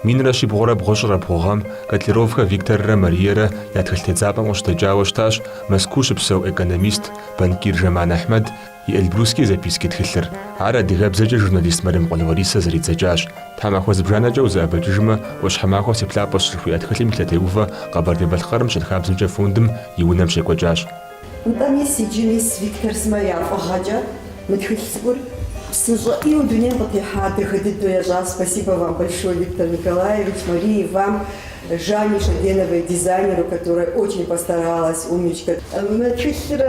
Минрэ щибгъурэ бгъущӏрэ бгъу гъэм Котляровхэ Викторрэ Мариерэ я тхылъ тедзапӏэм къыщыдэкӏауэ щытащ Мэзкуу щыпсэу экономист, банкир Жаман Ахьмэд, И Эльбрусские записки тхылъыр. Ар адыгэбзэкӏэ журналист Мэремкъул Ларисэ зэридзэкӏащ. Тхьэмахуэ зыбжанэкӏэ узэӏэбэкӏыжмэ, Ӏуащхьэмахуэ си плъапӏэщ жыхуиӏэ тхылъым и лъэтеувэ Къэбэрдей-Балъкъэрым щэнхабзэмкӏэ фондым и унэм щекӏуэкӏащ. Нтӏэ, мис иджы, мис Виктор сымэ я фӏыгъэкӏэ мы тхылъ цӏыкӏур псынщӏэ ӏейуэ дунейм къытехьа дахэ дыдэу ящӏащ. Спасибо вам большое, Виктор Николаевич, Мария и вам. Жанне Шогеновой, дизайнеру, которая очень постаралась, умничка. Мы тхылъыр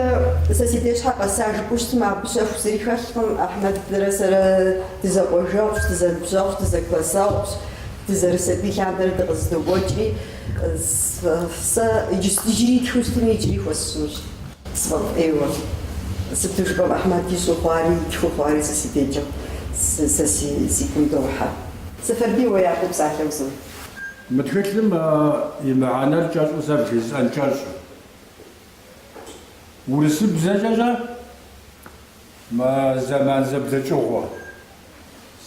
сэ си деж щхьэ къэса жыпӏэу щытмэ, абы щэху зыри хэлъкъым. Ахьмэдрэ сэрэ дызэкъуажэгъущ, дызэныбжьэгъущ, дызэклассэгъущ, дызэрысабий лъандэрэ дыкъызэдокӏуэкӏри. Сэ иджыри тхыу щытми, иджыри хуэсщӏынущ. Сфӏэфӏ ӏейуэ. Сыту жыпӏэм, Ахьмэд ищӏу хъуари, итхыу хъуари сэ си дежкӏэ, сэ си гум дохьэ. Сэфарбий, уэ япэу псалъэ узот. Мы тхылъым и мыхьэнэр кӏэщӏу сэ бжесӏэн кӏэщӏ. Урысыбзэкӏэ-щэ мы зэман зэблэкӏыгъуэ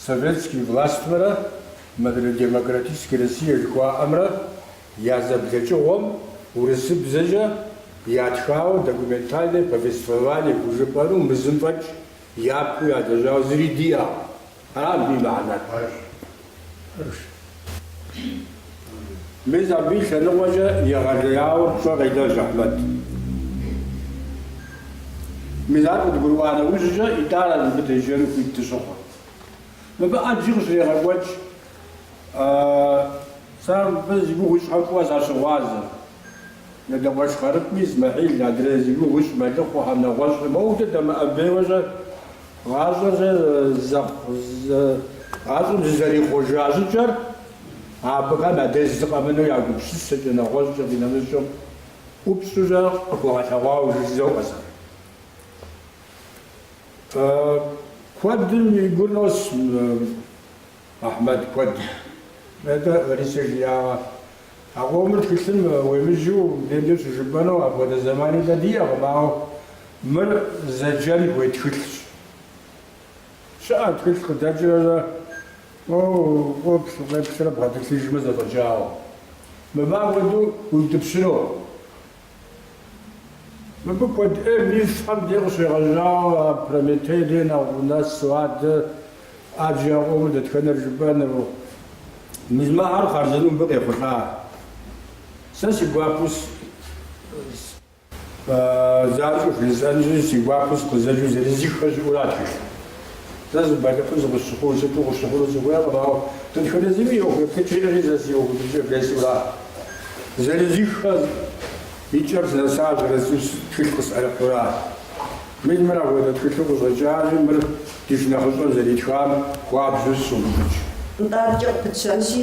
советский властьмрэ мыдрей демократический Россия жыхуаӏэмрэ я зэблэкӏыгъуэм урысыбзэкӏэ ятхауэ документальное повествование хужыпӏэну мы зым фӏэкӏ япэу ялэжьауэ зыри диӏэкъым. Абы и мыхьэнэр пэжщ. Мис абы и лъэныкъуэкӏэ егъэлеяуэ пщӏэ къелэжь Ахьмэд. Мис ар къыдгурыӏуа нэужькӏэ итӏанэ мыбы деджэну хуит дыщыхъур. Мыбы ӏэджи къыщрегъэкӏуэкӏ, сэ мыбы зи гугъу ищӏхэм фӏыуэ сащыгъуазэ. Нэгъуэщӏ къэрытми Исмэхьил адрей зи гугъу ищӏ мэлыхъуэхэм нэгъуэщӏыр моуэ-дэ дэмыӏэбейуэ-щэ, гъащӏэр-щэ зэхъу, гъащӏэм зызэрихъуэжа щӏыкӏэр абыхэм адрей зыкъэмыну я гупсысэкӏэ, нэгъуэщӏкӏэ къинэмыщӏым ӏупщӏу-щэ къыхуэгъэлъэгъуауэ жызоӏэ сэ. Куэдым игу нос Ахьмэд куэд нетӏэ Ларисэ жиӏагъэ. А къомыр тхылъым уемыджэу мыбдеж щыжыпӏэну апхуэдэ зэмани дэ диӏэкъым, ауэ мыр зэджэн хуей тхылъщ. Щыӏэ тхылъ къыдэкӏрэ фӏыуэ ӏуэплъ укъеплърэ бгъэтӏылъыжмэ зэфӏэкӏауэ. Мыбы апхуэдэу уиутӏыпщыну? Мыбы куэд ӏейм и щхьэм дей къыщегъэжьауэ а Прометей дей нэхъ унэсу адэ ӏэджи яӏуэу дэтхэнэр жыпӏэну? Мис мыхэр хъарзынэу мыбы къехъулӏа? Сэ си гуапэу с. Занщӏэу жысӏэнщи, си гуапэу сыкъызэджэу зырызыххэ щыӏэу ара тхылъ. Сэ сыбэлыхьу зыкъысщыхъуу, сыту къыщыхъуну сыхуейкъым, ауэ дэтхэнэ зыми и ӏуэху еплъыкӏэри сэ си ӏуэху еплъыкӏэр блэсуракъым. Зырызыххэ и кӏэм сынэса зырызу тхылъ къысӏэрыхьэу аращ. Мыр, мыр апхуэдэ тхылъу къыщӏэкӏащи, мыр ди шынэхъыщӏэм зэритхам хуабжьу сыщогуфӏыкӏ. Нтӏэ адэкӏэ къыпытщэнщи,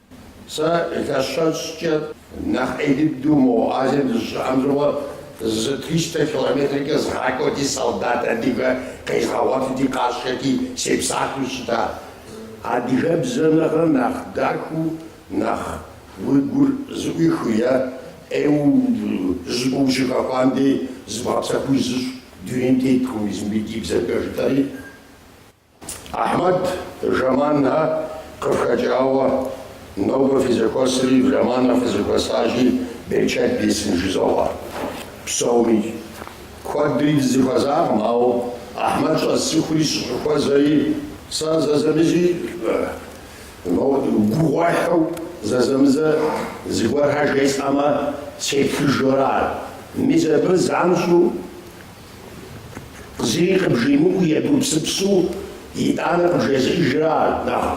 Сэ илъэс щэщӏкӏэ нэхъ ӏей дыдэу мо Азием дыщыӏэм щыгъуэ зы триста километркӏэ згъакӏуэти солдат адыгэ къезгъэгъуэтыти къашэти сепсалъэу щыта. Адыгэбзэм нэхърэ нэхъ дахэу, нэхъ уи гур зыӏуихыу е ӏейуэ жыпӏэу ущыхэхуам дей зыбгъэпсэхуу узыщӏ дунейм теткъым езым ди бзэкӏэ жытӏэри. Ахьмэд Жаманхэ къыфхэкӏауэ нобэ фызэхуэсри Жаманхэ фызэхуэсащи берычэт бесын жызоӏэ. Псоми куэдри дызэхуэзакъым, ауэ Ахьмэд щӏэсцӏыхури сыщӏыхуэзэри сэ зэзэмызи гугъуехьу зэзэмызэ зыгуэрхэр жесӏэмэ сеплъыжу ара. Мис абы занщӏэу Зыри къыбжимыӏэу егупсысу итӏанэ къыбжезыӏэжыр ар нэхъ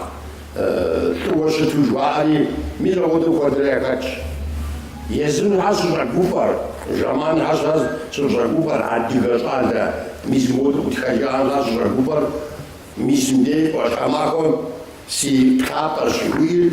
лӏыуэ щыту жаӏэри, мис апхуэдэу куэдрэ яхэтщ. Езымхэ сыщӏэгуфӏэр, Жаманхэ сэ сыщӏэгуфӏэр, адыгэ щӏалэ мис модэу къытхэжахэмкӏэ сыщӏэгуфӏэр, мис мыбдеж ӏуащхьэмахуэм си плъапӏэщ жыхуиӏэр.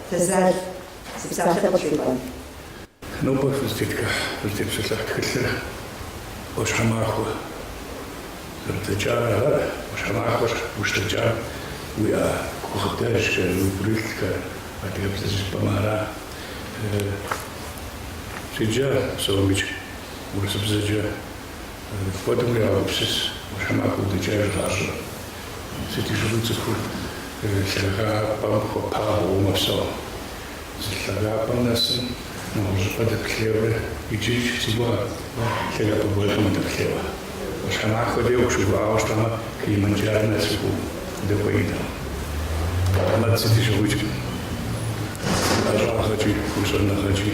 Фызал, си псалъэ къытхуикӏуэн. Нобэ фызытетхыхь, фызытепсэлъыхь тхылъыр ӏуащхьэмахуэ. Узэрыдэкӏар ара, ӏуащхьэмахуэм ущыдэкӏам уиӏа гукъыдэжхэр, уи гурылъхэр, адыгэбзэу жыпӏэмэ ара? Седжа сэ уэ мыщ урысыбзэкӏэ? Мыпхуэдэу егупсыс, ӏуащхьэмахуэ удэкӏэж гъащӏэ. Сыти щыгъуи цӏыхур лъагапӏэм хуэпабгъэу мэпсэу. Зы лъагапӏэм нэсым нэгъуэщӏыпӏэ дэплъейуэ иджыкӏ си гугъэ лъагапӏэ гуэрхэм удэплъейуэ. ӏуащхьэмахуэ дей укъыщыувыӏауэ щытамэ, Килиманджаро нэсу удэкӏуеинтэ. Ахьмэд сыти щыгъуикӏ ӏэщӏагъэкӏи, уи щӏэныгъэкӏи.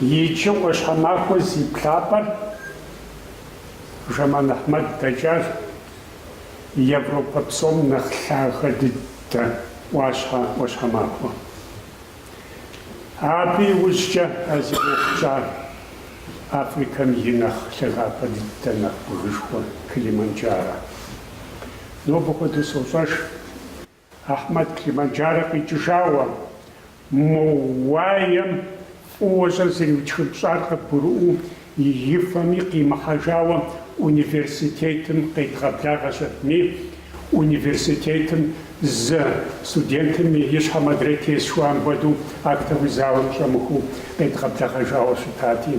Иджы Ӏуащхьэмахуэ зи плъапӏэр Жэман Ахьмэд дэкӏар Европэ псом нэхъ лъагэ дыдэ ӏуащхьэ ӏуащхьэмахуэ. Абы иужькӏэ а зи ӏуэхукӏар Африкэм и нэхъ лъагапӏэ дыдэ нэхъ бгышхуэ Килиманджаро. Нобэ хуэдэу сощӏэж. Ахьмэд Килиманджарэ къикӏыжауэ, мо уаем фӏыуэ щӏыр зэриутхыпщӏар къыбгурыӏуэу и фэми къимыхьэжауэ университетым къедгъэблагъэ щытми, университетым зы студентым и щхьэм адрейр тес жыхуаӏэм хуэдэу актовый залым щӏэмыхуэу къедгъэблэгъэжауэ щытати,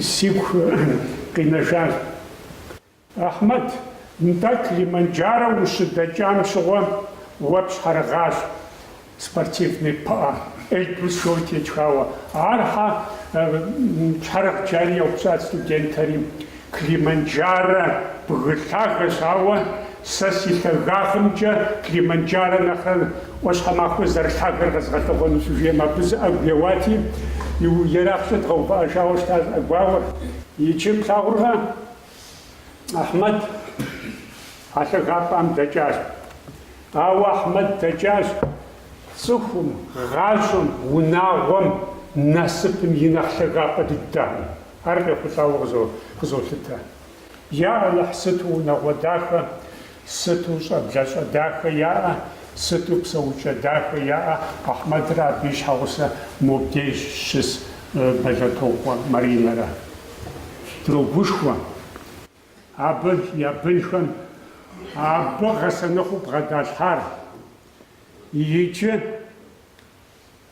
сигу къинэжар. Ахьмэд, нтӏэ Килиманджаро ущыдэкӏам щыгъуэ уэ пщхьэрыгъащ спортивный пыӏэ Эльбрус жиӏэу тетхауэ. Ар щхьэ пщхьэрыгът жари еупщӏат студентэри. Килиманджаро бгы лъагэщ, ауэ сэ си лъагагъымкӏэ Килиманджаро нэхърэ ӏуащхьэмахуэ зэрылъагэр къэзгъэлъэгъуэнущ, щыжиӏэм абы зы ӏэгу еуати, ерагъкӏэ дгъэувыӏэжауэ щытащ ӏэгуауэр. Иджы плъагъуркъэ? Ахьмэд а лъагапӏэм дэкӏащ. Ауэ Ахьмэд дэкӏащ цӏыхум, гъащӏэм, унагъуэм, насыпым и нэхъ лъагапӏэ дыдэм. Ар къехъулӏауэ къызолъытэ. Я Алыхь, сыту унагъуэ дахэ! Сыту щӏэблэщӏэ дахэ яӏэ, сыту псэукӏэ дахэ яӏэ Ахьмэдрэ абы и щхьэгъусэ мобдей щыс Бэлэтокъуэ Маринэрэ. Дрогушхуэ абы я бынхэм абы гъэсэныгъэу бгъэдалъхьар иджы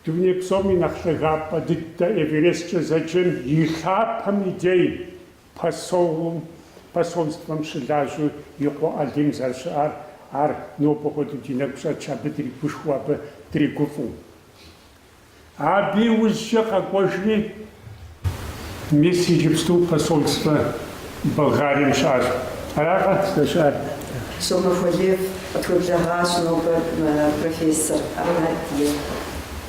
дуней псом и нэхъ лъагапӏэ дыдэ Эвересткӏэ зэджэм и лъапэм и дей Пасоум, посольствэм щылажьэу и къуэ Алим зэрыщыӏар, ар нобэ хуэдэу ди нэгу щӏэтщ абы дригушхуэу, абы дригуфӏэу. Абы и ужькӏэ къэкӏуэжри, мис иджыпсту посольствэ Болгарием щыӏэщ. Аракъэ здэщыӏэр? Сомэ Хуэлев къытхуеблэгъащ нобэ профессор Ахьмэд и.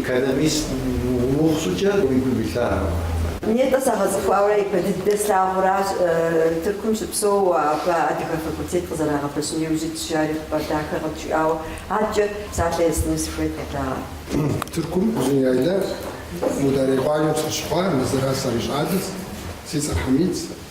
Экономист умыхъу щӏыкӏэ уи гум илъар. Нетӏэ сагъэцӏыхуауэ ипэ дыдэ слъагъуращ, Тыркум щыпсэууэ абы адыгэ факультет къызэрагъэпэщыну иужь ит, жари хъыбар дахэ къытжиӏауэ, адэкӏэ псалъэ естыну сыхуейт къэдагъэр. Тыркум Узуняйла Мударей къуажэм сыщыхъуа, Мызыра сарищӏалэс, си цӏэр Хьэмидс,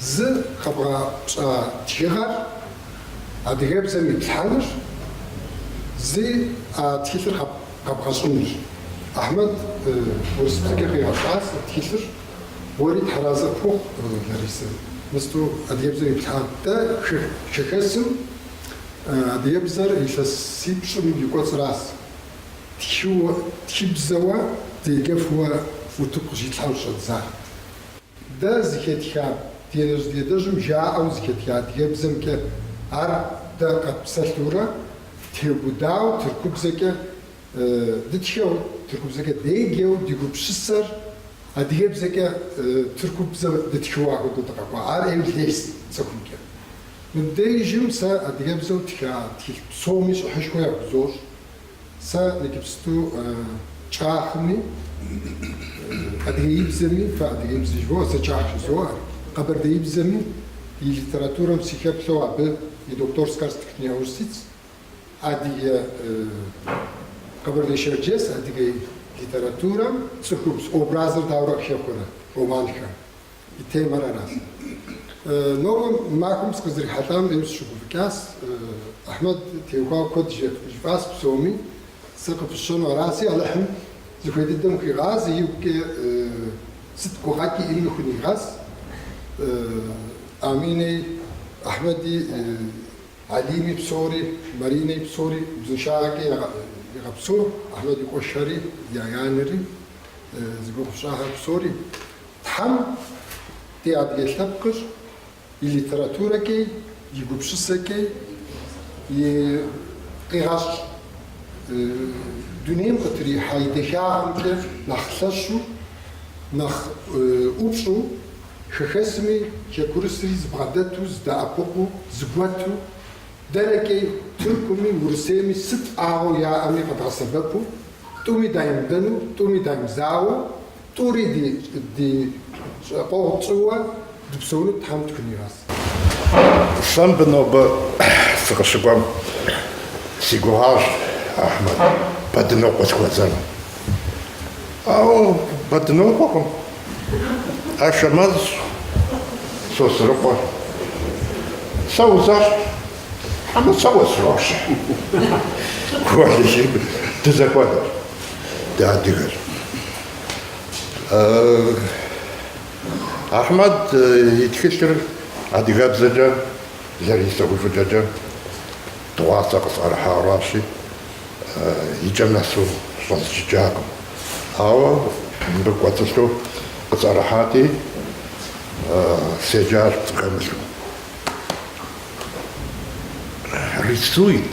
Зы къэбгъэщӏа тхыгъэр адыгэбзэм иплъхьэныр, зи а тхылъыр къэбгъэщӏынущ. Ахьмэд урысыбзэкӏэ къигъэщӏас тхылъыр, уэри тхьэразэ пхухъу, Ларисэ, мысту адыгэбзэм иплъхьа. Дэ хэхэсым адыгэбзэр илъэсипщӏым и кӏуэцӏращ, тхыбзэуэ дегэфуэ утыку къыщитлъхьэу щӏэддзар. Дэ зыхэтха ди нэжь ди адэжьым жаӏэу зыхэтха адыгэбзэмкӏэ ар дэ къэтпсэлъурэ дтегудау тыркубзэкӏэ дытхэу, тыркубзэкӏэ дегэу ди гупсысэр адыгэбзэкӏэ тыркубзэу дытхыу ахуэдэу дыкъэкӏуа. Ар ӏейуэ лейс цӏыхумкӏэ. Мыбдежым сэ адыгэбзэу тха тхылъ псоми щӏыхьышхуэ яхузощӏ. Сэ игыпсту кӏахми, адыгеибзэми, фэ адыгеибзэ жывоӏэ, сэ кӏах жызоӏэ, къэбэрдеибзэми и литературэм сихеплъэу абы и докторскар степень яужь ситс, адыгэ, къэбэрдей-шэрджэс адыгэ литературэм цӏыхубз образыр дауэрэ къыхэхъурэ романхэм? И темэр аращ. Нобэ махуэм сыкъызэрихьэлӏам ӏейуэ сыщыгуфӏыкӏащ. Ахьмэд теухуауэ куэд жиӏащ псоми, сэ къыпысщэну араси, Алыхьым зыхуей дыдэм хуигъаз, игукӏэ сыт гукъэкӏ иӏэми хунигъэс. Аминэи, Ахьмэди, Алими псори, Маринэи псори узыншагъэкӏэ игъэпсэу, Ахьмэд и къуэшхэри, я анэри, зи гугъу сщӏахэр псори. Тхьэм ди адыгэ лъэпкъыр и литературэкӏи, и гупсысэкӏи, и къигъэщӏ дунейм къытрихьа и дахагъэмкӏи нэхъ лъэщу, нэхъ ӏупщӏу, хэхэсми хэкурысри зыбгъэдэту, здэӏэпыкъуу, зыгуэту, дэркӏи Тыркуми, Урысейми сыт ӏагъуэу яӏэми къэдгъэсэбэпу, тӏуми даймыдэну, тӏуми даймызауэу, Тӏури ди ди щӏэкъуэгъу тщӏыуэ дыпсэуну Тхьэм дыхунигъэс. Сэ мыбы нобэ сыкъыщыкӏуэм си гугъащ Ахьмэд Бэдынокъуэ сыхуэзэну. Ауэ Бэдынокъуэкъым, Ашэмэзщ, Сосрыкъуэ. Сэ узащ, хьэмэ сэ уэсрощ. Гуэлыжьын дызэхуэдэщ. дэ адыгэр. Ахьмэд и тхылъыр адыгэбзэкӏэ Ларисэ уи фӏыщӏэкӏэ дыгъуасэ къысӏэрыхьаращи, икӏэм нэсу щӏэзджыкӏакъым. Ауэ мыбы кӏуэцӏылъу къысӏэрыхьати, седжащ пцӏы хэмылъу. Рисует.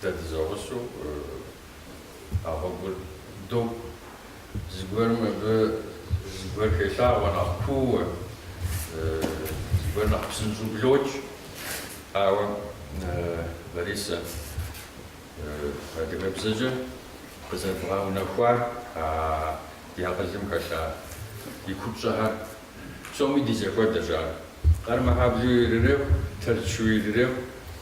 Дэ дызэгъусэу а гъуэгур докӏуэ. Зыгуэрым абы зыгуэр хелъагъуэ нэхъ куууэ, зыгуэр нэхъ псынщӏэу блокӏ. Ауэ, Ларисэ, адыгэбзэкӏэ къызэрыбгъэунэхуар а ди акъылым хэлъа и купщӏэхэр псоми ди зэхуэдэщ ар. Къармэхьэблу ирырехъу, тэрчу ирырехъу.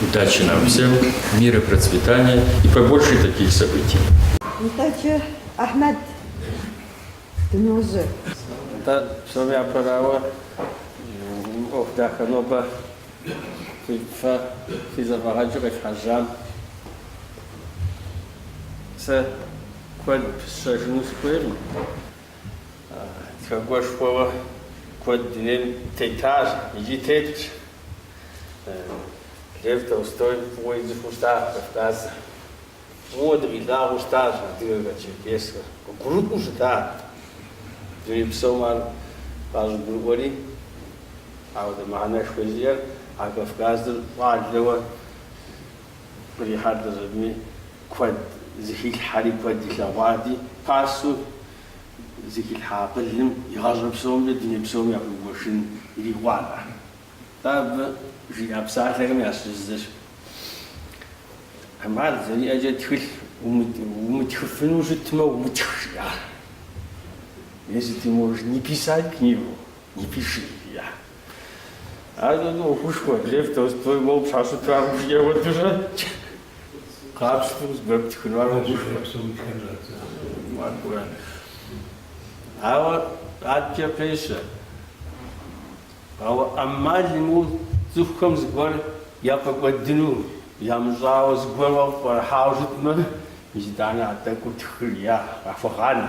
Удачи нам всем, мира, процветания и побольше таких событий. Нтӏэкӏэ, Ахьмэд, дыножьэ. Нтӏэ, псом япэрауэ, ӏуэху дахэ нобэ фэ фи зэфӏэгъэкӏыр къилъхьэжьам. Сэ куэд сщӏэжыну сыхуейкъым. Тхакӏуэшхуэуэ куэд дунейм тетащ икӏи тетщ. Лев Толстой фӏыуэ ицӏыхуу щытащ Кавказыр. Фӏыуэ дыкъилъагъуу щытащ адыгэхэр, черкесхэр. Къыгурыӏуэу щытат. Дуней псом ар къащӏыгурыӏуэри, ауэ дэ мыхьэнэшхуэ зиӏэр а Кавказыр щӏалэуэ кърихьэлӏэщ. Абыми куэд зыхилъхьэри, куэд илъэгъуати, пасэу. зыхилъхьа акъылым и гъащӏэ псомкӏэ дуней псом яхуигуэшын ирикъуат ар. Атӏэ абы жиӏа псалъэхэм ящыщ зыщ. ӏэмал зэриӏэкӏэ тхылъ умытхыфыну щытмэ, умытх, жиӏар. Если ты можешь не писать книгу, не пиши, жиӏар. Ар нуну ӏуэхушхуэ, Лев Толстой моуэ пщхьэщытрэ ар жыӏегъуэтурэ къапщтэу зыгуэр птхыну, ар ӏуэхушхуэ. Ауэ адэкӏэ пещэ, ауэ ӏэмал имыӏэу цӏыхухэм зыгуэр яфӏэкӏуэдыну ямыщӏауэ, зыгуэр уэ пӏэрыхьауэ щытмэ, итӏанэ а тӏэкӏур тхыри къахуэгъанэ.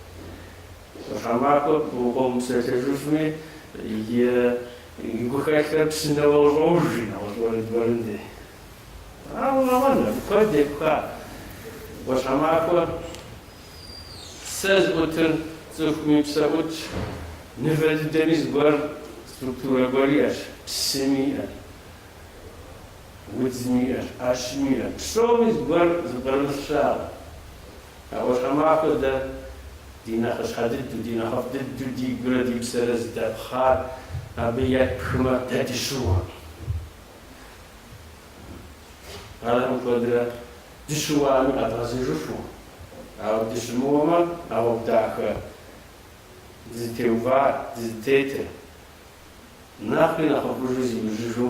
ӏуащхьэмахуэ пагэ мыпсэлъэжыфми и гухэлъхэр псынэуэ къыщӏож, жи нэгъуэщӏ уэрэд гуэрым дей. Ауэ къэуэн абы куэд епха. ӏуащхьэмахуэ псэ зыӏутыр цӏыхуми псэ ӏутщ, мывэ дыдэми зыгуэр структурэ гуэр иӏэщ, псыми иӏэ, удзми иӏэ, ӏэщми иӏэ, псоми зыгуэр зыпкърымылъ щыӏэкъым. А ӏуащхьэмахуэр дэ, ди нэхъыщхьэ дыдэу, ди нэхъыфӏ дыдэу ди гурэ ди псэрэ зыдэпхар, абы епхмэ, дэ дыщыуакъым. Архэм куэдрэ дыщыуами къэдгъэзэжыфу, ауэ дыщымыуэмэ, а гъуэгу дахэ дызытеувар, дызытетыр. Нэхъри нэхъыфӏыжу зиужьыжу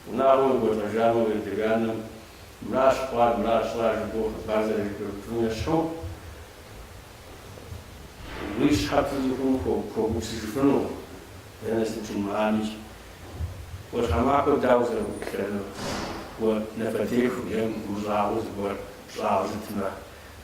унагъуэм уекӏуэлӏэжамэ, уи адэ-анэм мыращ хъуар, мыращ щӏар жыпӏэу хъыбар зэрыжепӏэжым ещхьу, уи щхьэ пыдзу хъуну хуэгупсыжыфыну, дэнэ сыт жумыӏамикӏ, ӏуащхьэмахуэр дауэ узэрыӏуплъэнур, уэ напэтеху е мыхъумыщӏагъэ зыгуэр пщӏауэ щытмэ.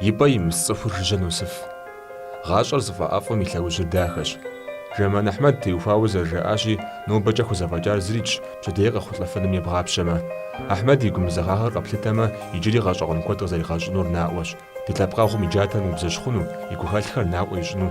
И пӏэ имыс цӏыхур жыжьэ носыф. Гъащӏэр зыфӏэӏэфӏым и лъэужьыр дахэщ. Жэман Ахьмэд теухуауэ зэрыжаӏащи, нобэкӏэ хузэфӏэкӏар зырикӏщ пщэдей къэхъулӏэфыным ебгъапщэмэ. Ахьмэд и гумызэгъагъэр къэплъытэмэ, иджыри гъэщӏэгъуэн куэд къызэригъэщӏынур наӏуэщ. Ди лъэпкъэгъум и джатэр мыубзэщхъуну, и гухэлъхэр наӏуэ ищӏыну